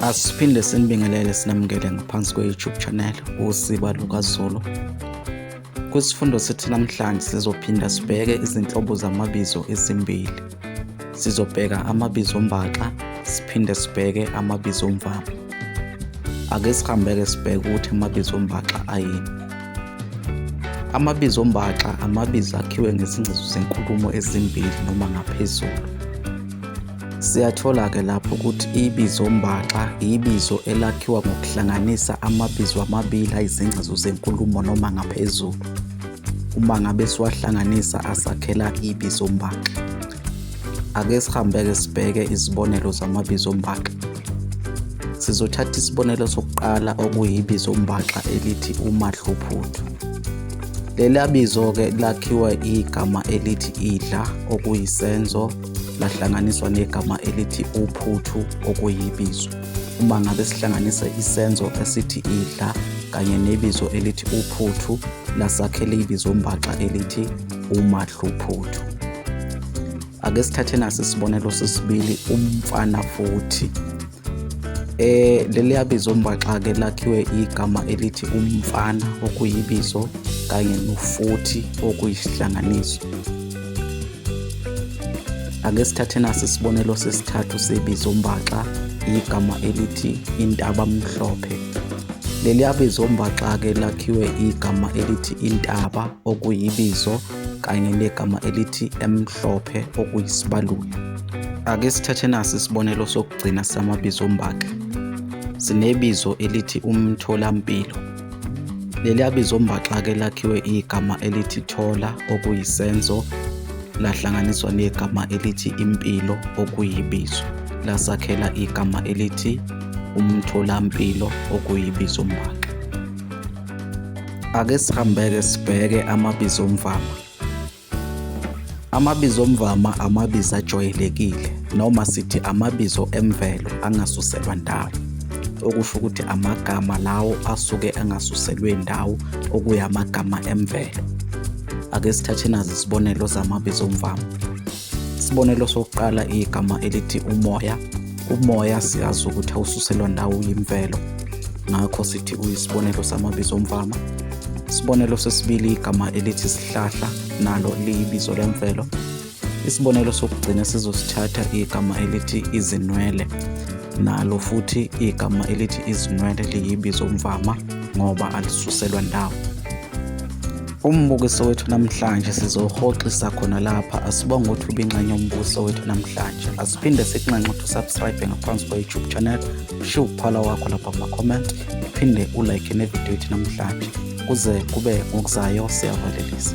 Asiphinde sinibingelele sinamukele ngaphansi kwe-YouTube channel usiba lukazulu. Kwisifundo sethu namhlanje sizophinda sibheke izinhlobo zamabizo ezimbili. Sizobheka amabizo ombaxa siphinde sibheke amabizo omvama. Ake sihambeke sibheke ukuthi amabizo ombaxa ayini. Amabizo ombaxa amabizo akhiwe ngezingcezu zenkulumo ezimbili noma ngaphezulu. Siyathola-ke lapho ukuthi ibizo mbaxa ibizo elakhiwa ngokuhlanganisa amabizo amabili ayizingcezu zenkulumo noma ngaphezulu. Uma ngabe siwahlanganisa asakhela ibizo mbaxa. Ake sihambe-ke sibheke izibonelo zamabizo mbaxa. Sizothatha isibonelo sokuqala okuyibizo mbaxa elithi umadluphuthu. Leli abizo-ke lakhiwa igama elithi idla okuyisenzo lahlanganiswa negama elithi uphuthu okuyibizo. Uma ngabe sihlanganisa isenzo esithi idla kanye nebizo elithi uphuthu lasakhela ibizombaxa elithi umadluphuthu. Ake sithathe nasi isibonelo sesibili umfana futhi. Eh leliya bizo mbaxa ke lakhiwe igama elithi umfana okuyibizo kanye nofuthi okuyisihlanganiso. Ake sithathe nasi isibonelo sesithathu sebizo mbaxa igama elithi intaba mhlophe. Leliya bizo mbaxa ke lakhiwe igama elithi intaba okuyibizo kanye negama elithi emhlophe okuyisibaluli. Ake sithathe nasi isibonelo sokugcina samabizo ombaka. Sinebizo elithi umtholampilo. Leli abizo ombaxa-ke lakhiwe igama elithi thola okuyisenzo lahlanganiswa negama elithi impilo okuyibizo lasakhela igama elithi umtholampilo okuyibizo mbaka. Ake sihambeke sibheke amabizo omvama. Amabizo omvama amabizo ajwayelekile noma sithi amabizo emvelo angasuselwa ndawo okusho ukuthi amagama lawo asuke angasuselwe ndawo okuyamagama emvelo. Ake sithathe nazi isibonelo zamabizo omvama. Isibonelo sokuqala igama elithi umoya. Umoya siyazi ukuthi awususelwa ndawo yimvelo, ngakho sithi uyisibonelo samabizo omvama. Isibonelo sesibili igama elithi sihlahla, nalo liyibizo lemvelo. Isibonelo sokugcina sizosithatha igama elithi izinwele, nalo futhi igama elithi izinwele liyibizo omvama ngoba alisuselwa ndawo. Umbukiso wethu namhlanje sizohoxisa khona lapha asibonge ukuthi ubinxenye umbukiso wethu namhlanje asiphinde sikunxenxe ukuthi usubscribe ngaphansi kwa-youtube channel ushiye ukuphala wakho lapha kuma-comment uphinde ulike nevidiyo yethu namhlanje kuze kube ngokuzayo siyavalelisa